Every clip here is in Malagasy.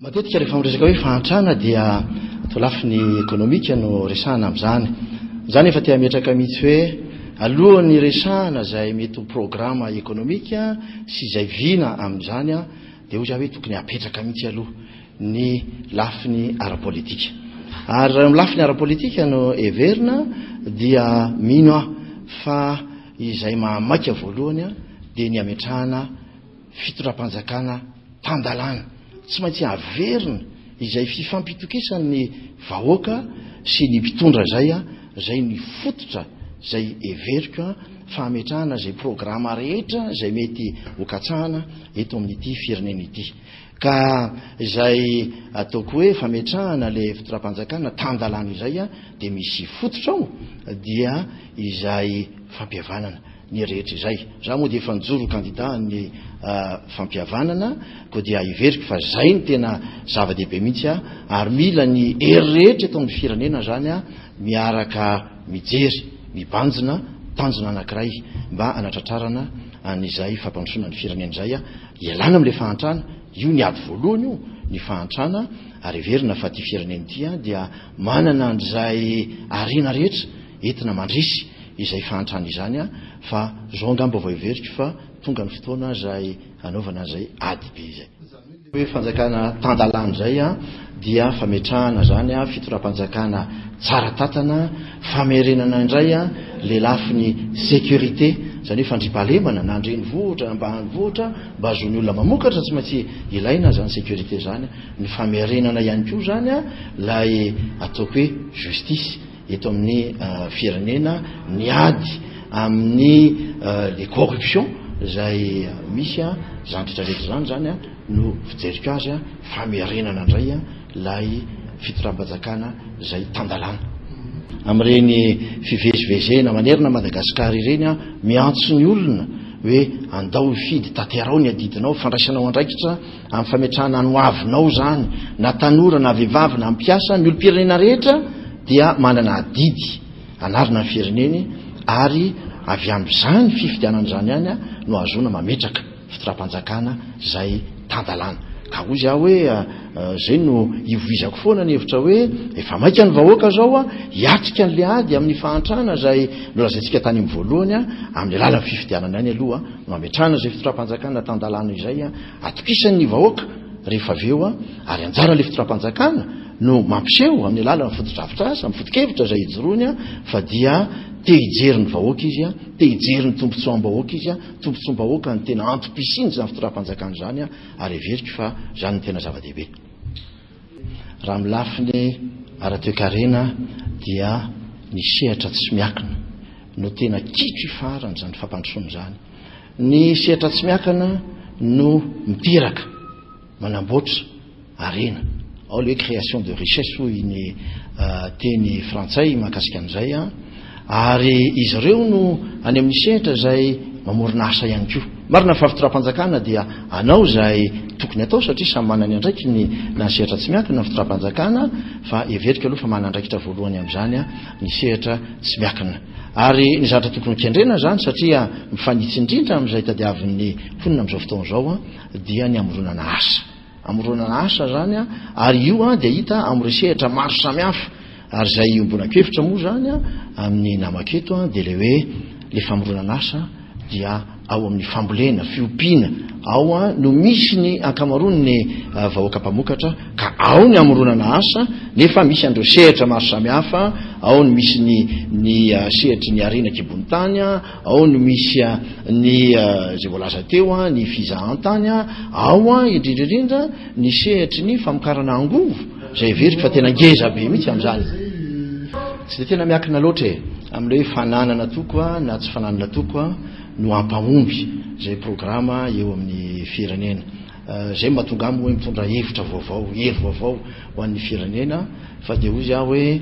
Matetika rehefa miresaka hoe fahantrana dia to lafiny ekonomika no resahana amin'izany. Izany efa te hametraka mihitsy hoe alohan'ny resahana izay mety ho programa ekonomika sy izay vina amin'izany dia hoy za hoe tokony hapetraka mihitsy aloha ny lafiny ara-politika. Ary raha eo amin'ny lafiny ara-politika no heverina dia mino aho fa izay mahamaika voalohany dia ny hametrahana fitondram-panjakana tan-dalàna. Tsy maintsy averina izay fifampitokisan'ny vahoaka sy ny mpitondra izay, izay ny fototra izay heveriko fa hametrahana izay programa rehetra izay mety hokatsahana eto amin'ity firenena ity. Ka izay ataoko hoe fametrahana ilay fitondram-panjakana tan-dalàna izay dia misy fototra ao dia izay fampihavanana ny rehetra izay. Izaho moa dia efa nijoro ho kandida an'ny fampihavanana koa dia heveriko fa izay no tena zava-dehibe mihitsy ary mila ny hery rehetra eto amin'ny firenena izany miaraka mijery mibanjina tanjona anankiray mba hanatratrarana an'izay fampandrosoana ny firenena izay. Ialana amin'ilay fahantrana, io ny ady voalohany io, ny fahantrana, ary heverina fa ity firenena ity dia manana an'izay harena rehetra entina mandresy izay fahantrana izany fa zao angamba vao heveriko fa tonga ny fotoana izay hanaovana an'izay ady be izay. Izany hoe ilay hoe fanjakana tan-dalàna izay. dia fametrahana izany fitondram-panjakana tsara tantana, famerenana indray ilay lafiny sécurité, izany hoe fandriampahalemana na an-drenivohitra na ambanivohitra mba hahazoan'ny olona mamokatra, tsy maintsy ilaina izany sécurité izany, ny famerenana ihany koa izany ilay ataoko hoe justice. eto amin'ny firenena ny ady amin'ny le corruption izay misy a izany rehetra rehetra izany izany a no fijeriko azy a famerenana indray a ilay fitondrabajakana izay tan-dalàna amin'ireny fivezivezena manerana Madagasikara ireny a miantso ny olona hoe andao hifidy tanterao ny adidinao fandraisanao andraikitra Amin'ny fametrahana ny hoavinao izany, na tanora na vehivavy na mpiasa, ny olom-pirenena rehetra dia manana adidy hanarina ny fireneny ary avy amin'izany fifidianana izany ihany no ahazoana mametraka fitondram-panjakana izay tan-dalàna. Ka hoy aho hoe izay no ivovizako foana ny hevitra hoe efa maika ny vahoaka izao hiatrika an'ilay ady amin'ny fahantrana izay nolazaintsika tany amin'ny voalohany amin'ny alalan'ny fifidianana ihany aloha no hametrahana izay fitondram-panjakana tan-dalàna izay atokisany ny vahoaka rehefa avy eo ary anjaran'ilay fitondram-panjakana no mampiseho amin'ny alalan'ny fotodrafitrasa, amin'ny fotokevitra izay ijoroany fa dia te hijery ny vahoaka izy, te hijery ny tombontsoam-bahoaka izy, tombontsoam-bahoaka no tena antom-pisian'izany fitondram-panjakana izany ary heveriko fa izany no tena zava-dehibe. Raha amin'ny lafiny ara-toekarena dia ny sehatra tsy miakina no tena kitro ifaharan' izany fampandrosoana izany. Ny sehatra tsy miakana no miteraka, manamboatra harena. Ao ilay hoe création de richesse hoy ny teny frantsay mahakasika an'izay. Ary izy ireo no any amin'ny sehatra izay mamorona asa ihany koa. Marina fa fitondram-panjakana dia hanao izay tokony hatao satria samy manana ny andraikiny na ny sehatra tsy miankina ny fitondram-panjakana fa heveriko aloha fa manana andraikitra voalohany amin'izany ny sehatra tsy miankina. Ary ny zavatra tokony hokendrena izany satria mifanitsy indrindra amin'izay tadiavin'ny mponina amin'izao fotoana izao dia ny hamoronana asa. amoronana asa zany a ary io a dia hita amin'ny resehatra maro samihafa ary izay iombonan-kevitra moa zany a amin'ny namako eto a dia le hoe le famoronana asa dia ao amin'ny fambolena fiompiana ao a no misy ny ankamaroany ny vahoaka mpamokatra ka ao ny amoronana asa nefa misy an'ireo sehatra maro samihafa ao ny misy ny ny sehatry ny arena kibon'ny tany a Ao no misy ny izay voalaza teo, ny fizahantany, ao indrindra indrindra ny sehatry ny famokarana angovo, izay heveriko fa tena ngeza be mihitsy amin'izany. Tsy dia tena miakina loatra e, amin'ilay hoe fananana toko na tsy fananana toko no hampahomby izay programa eo amin'ny firenena. Izay no mahatonga ahy moa hoe mitondra hevitra vaovao, hery vaovao ho an'ny firenena, fa dia hoy aho hoe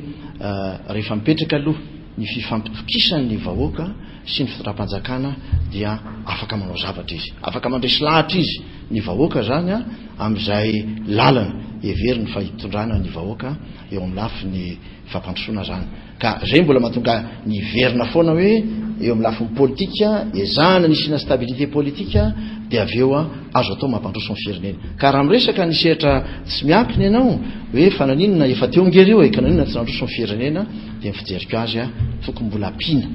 rehefa mipetraka aloha, ny fifampitokisany ny vahoaka sy ny fitondram-panjakana dia afaka manao zavatra izy, afaka mandresy lahatra izy, ny vahoaka izany, amin'izay lalana heveriny fa hitondrana ny vahoaka eo amin'ny lafiny fampandrosoana izany. Ka izay mbola mahatonga ny hiverina foana hoe eo amin'ny lafiny politika, ezahana ny hisiana stabilité politika dia avy eo azo atao mampandroso ny firenena. Ka raha miresaka ny sehatra tsy miankina ianao hoe fananinona efa teo nge ireo e, ka naninona tsy nandroso ny firenena, Dia ny fijeriko azy a, tokony mbola ampiana,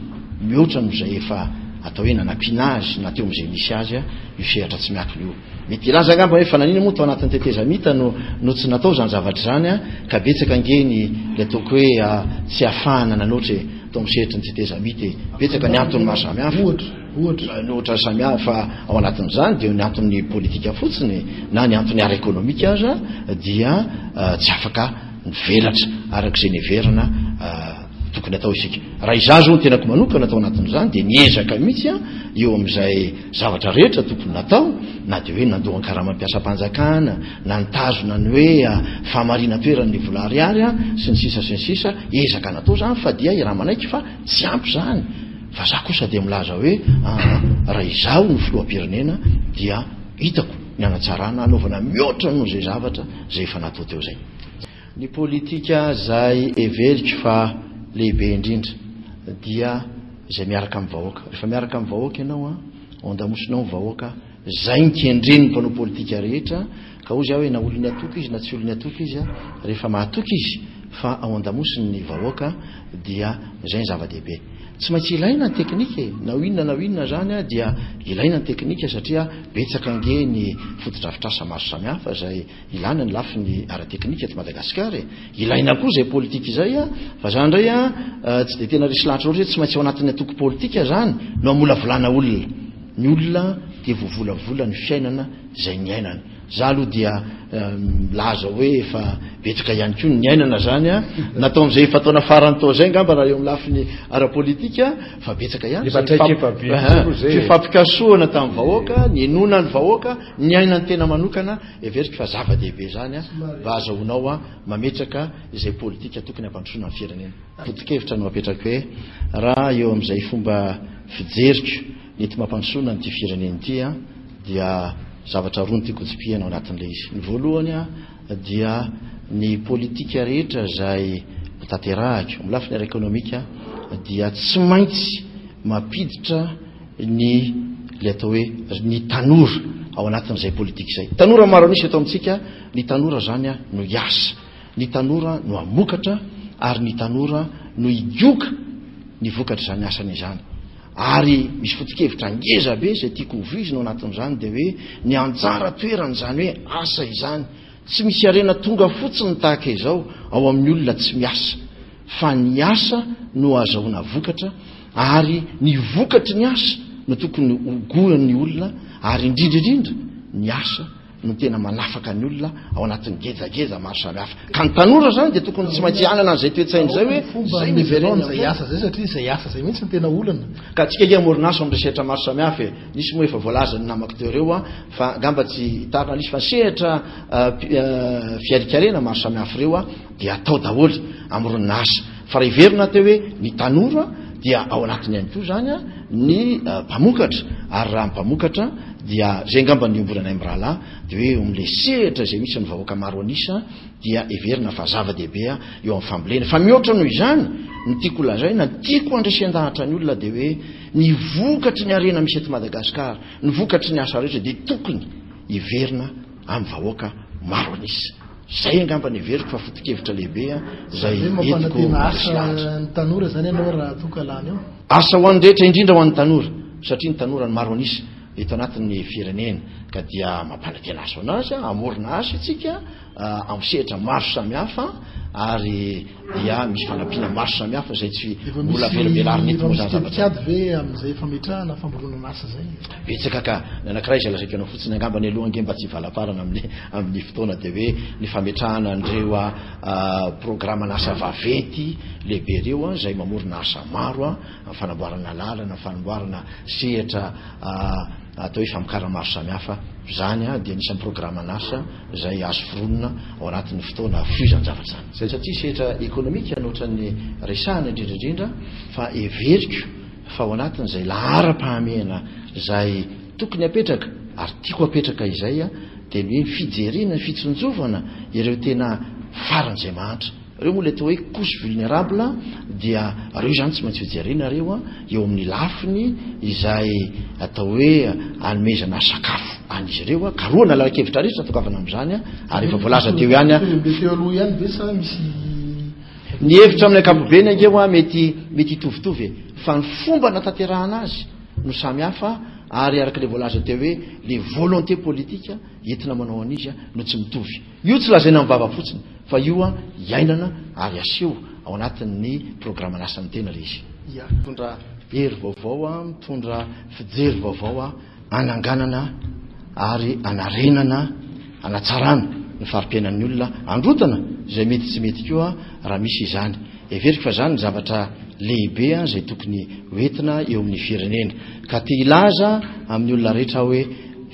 mihoatra noho izay efa atao hoe nanampiana azy na teo amin'izay misy azy a, io sehatra tsy miankina io. Mety hilaza angamba hoe fa nanina moa tao anatin'ny tetezamita no no tsy natao izany zavatra izany a, ka betsaka ange ny ilay ataoko hoe a tsy ahafahana nanoatra e, tao amin'ny sehatry ny tetezamita e. Betsaka ny antony maro samihafa. Ohatra? Ohatra? Ny ohatra samihafa ao anatin'izany dia ny anton'ny politika fotsiny e, na ny antony ara-ekonomika aza dia tsy afaka. mivelatra araka izay niheverana tokony atao isika raha izaho zao ny tenako manokana atao anatin'izany dia niezaka mihitsy a eo amin'izay zavatra rehetra tokony natao na dia hoe nandohan karama mpiasam-panjakana na nitazona ny hoe famarina toeran'ny vola ariary a sy ny sisa sy ny sisa ezaka natao zany fa dia raha manaiky fa tsy ampy zany fa za kosa dia milaza hoe raha izaho ny filoham-pirenena dia hitako ny anatsarana anaovana mihoatra noho izay zavatra izay efa natao teo izay. Ny politika izay heveriko fa lehibe indrindra dia izay miaraka amin'ny vahoaka. Rehefa miaraka amin'ny vahoaka ianao an, ao an-damosinao ny vahoaka, izay no kendren'ny mpanao politika rehetra, ka hoy aho hoe na olon'ny antoko izy na tsy olon'ny antoko izy, rehefa mahatoky izy fa ao an-damosiny ny vahoaka dia izay ny zava-dehibe. Tsy maintsy ilaina ny teknika e! Na ho inona na ho inona izany dia ilaina ny teknika satria betsaka ange ny fotodrafitrasa maro samihafa izay ilana ny lafiny ara-teknika eto Madagasikara e! Ilaina koa izay politika izay fa izany indray an tsy dia tena resy lahatra loatra hoe tsy maintsy ao anatin'ny antoko politika izany no hamolavolana olona. Ny olona dia voavolavola ny fiainana izay niainany. Za aloha dia milaza hoe efa betsaka ihany koa ny niainana zany a, natao amzay efa taona farany tao zay angamba raha eo am lafiny ara politika fa betsaka ihany zay ny fifampikasohana tam vahoaka, ninoana ny vahoaka, niaina ny tena manokana, heveriko fa zava dehibe zany a mba azahoanao a mametraka izay politika tokony hampandrosoana ny firenena. Foto kevitra no apetrako hoe raha eo amzay fomba fijeriko, Ny tsy mampandrosoana an'ity firenena ity dia zavatra roa no tiako hitsipihana ao anatin'ilay izy. Ny voalohany dia ny politika rehetra izay hotanterahiko amin'ny lafiny ara-ekonomika dia tsy maintsy mampiditra ny ilay atao hoe ny tanora ao anatin'izay politika izay. Tanora maro an'isa eto amintsika, ny tanora izany no hiasa, ny tanora no hamokatra ary ny tanora no higoka ny vokatr'izany asany izany. Ary misy foto-kevitra ngeza be izay tiako hovoizina ao anatin'izany dia hoe ny anjara toeran'izany hoe asa izany. Tsy misy harena tonga fotsiny ny tahaka izao ao amin'ny olona tsy miasa, fa ny asa no ahazahoana vokatra ary ny vokatry ny asa no tokony hogoan'ny olona ary indrindra indrindra ny asa no tena manafaka ny olona ao anatin'ny gejageza maro samihafa ka ny tanora izany dia tokony tsy maintsy hanana an'izay toetsaina izay hoe zay miverena zay asa zay satria zay asa zay mihitsy ny tena olana ka tsika ke morinasa amin'ny sehatra maro samihafa e nisy moa efa voalazan'ny namako teo ireo a fa angamba tsy hitarina lisy fa sehatra fiarikarena maro samihafa ireo a dia atao daholo amin'irony asa fa raha heverina aho teo hoe ny tanora dia ao anatiny ihany koa izany a ny mpamokatra ary raha ny mpamokatra dia izay angamba ny iombonanay mirahalahy dia hoe eo amin'ilay sehatra izay misy ny vahoaka maro an'isa dia heverina fa zava-dehibe a eo amin'ny fambolena fa mihoatra noho izany ny tiako lazaina ny tiako handresen-dahatra ny olona dia hoe ny vokatry ny harena misy eto Madagasikara ny vokatry ny asa rehetra dia tokony hiverina amin'ny vahoaka maro an'isa Zay angamba ny heveriko fa foto-kevitra lehibe zay entiko asilahatra. Ny tanora zany ianao raha toa ka lany eo? Asa ho an'ny rehetra indrindra ho an'ny tanora satria ny tanora no maro an'isa eto anatin'ny firenena ka dia mampanantena asa ho an'azy hamorona asa isika amin'ny sehatra maro samihafa ary dia misy fanampiana maro samihafa izay tsy mbola avelabelarina eto moa izany zavatra izany. Efa misy paikady ve amin'izay fametrahana famboronan'asa izay? Betsaka ka, ny anankiray izay lazaiko anao fotsiny angamba ny aloha ange mba tsy hivalaparana amin'ny amin'ny fotoana dia hoe ny fametrahana an'ireo programan'asa vaventy lehibe ireo izay mamorona asa maro amin'ny fanamboarana lalana, fanamboarana sehatra atao hoe famokarana maro samihafa. Izany dia anisan'ny programan'asa. izay azo foronina ao anatin'ny fotoana foizany zavatra izany. Izay satria setra ekonomika no ohatran'ny resahana indrindra indrindra fa heveriko fa ao anatin'izay laharam-pahamehana izay tokony hapetraka ary tiako hapetraka izay dia ny hoe fijerena, fitsinjovana ireo tena faran'izay mahantra. Reo moa le atao hoe couche vulnerable dia reo izany tsy maintsy hojerena reo eo amin'ny lafiny izay atao hoe anomezana sakafo an'izy ireo, karohana lalan-kevitra rehetra atokavana amin'izany ary efa voalaza teo ihany a. Tokony ho be teo aloha ihany ve sa misy. Ny hevitra amin'ny ankapobeny ange hoa mety mety hitovitovy e, fa ny fomba nataterahana azy no samy hafa ary araka le voalaza teo hoe le volonté politique entina manao an'izy no tsy mitovy. Io tsy lazaina amin'ny vava fotsiny fa io an iainana ary aseho ao anatin'ny programan'asan'ny tena ilay izy. Ia, mitondra hery vaovao an, mitondra fijery vaovao an, ananganana ary anarenana, anatsarana ny fari-piainan'ny olona, androtana izay mety tsy mety koa raha misy izany. Heveriko fa izany ny zavatra lehibe an izay tokony ho entina eo amin'ny firenena ka te hilaza amin'ny olona rehetra aho hoe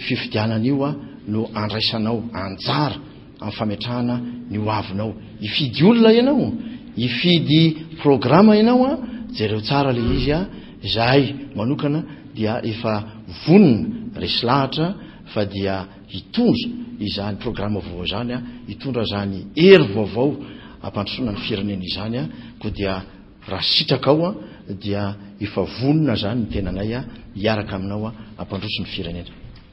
fifidianana io an, no andraisanao anjara amin'ny fametrahana ny ho avinao. Hifidy olona ianao, hifidy programa ianao a, jereo tsara ilay izy a, izahay manokana dia efa vonona resy lahatra fa dia hitondra izany programa vaovao izany a, hitondra izany hery vaovao hampandrosoana ny firenena izany a, koa dia raha sitrakao a, dia efa vonona izany ny tenanay a, hiaraka aminao a, hampandroso ny firenena.